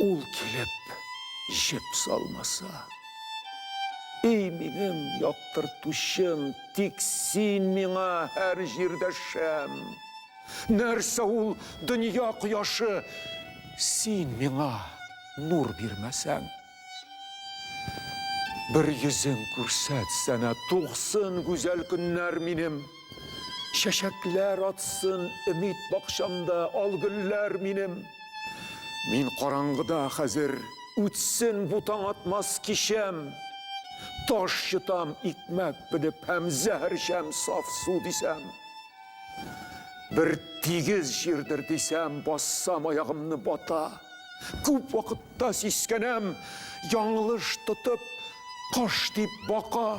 Ул килеп җеп салмаса. Эй минем яктыртучым, тик син миңа һәр җирдә шәм. Нәрсә ул дөнья кояшы, син миңа нур бирмәсәң. Бер йөзең күрсәтсәнә, тугсын гүзәл көннәр минем. Чәчәкләр атсын өмид бакчамда ал гөлләр минем. Мин караңгыда хәзер, үтсен бу таң атмас кичәм. Таш йотам икмәк белеп һәм зәһәрчәм саф су дисәм. Бер тигез җирдер дисәм, бассам аягымны бата. Күп вакытта сискәнәм, яңлыш тотып, кош дип бака.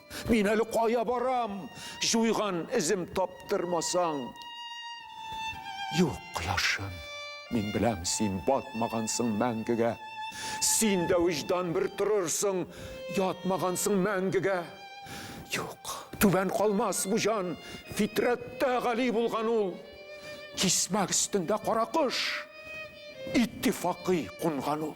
Мин әле кая барам? Җуйган эзем таптырмасаң. Юк, кояшым, мин беләм, син батмагансың мәңгегә. Син дә виждан бер торырсың, ятмагансың мәңгегә. Юк, түбән калмас бу җан, фитрәттә гали булган ул. Кисмәк өстендә кара кош, иттифакый кунган ул.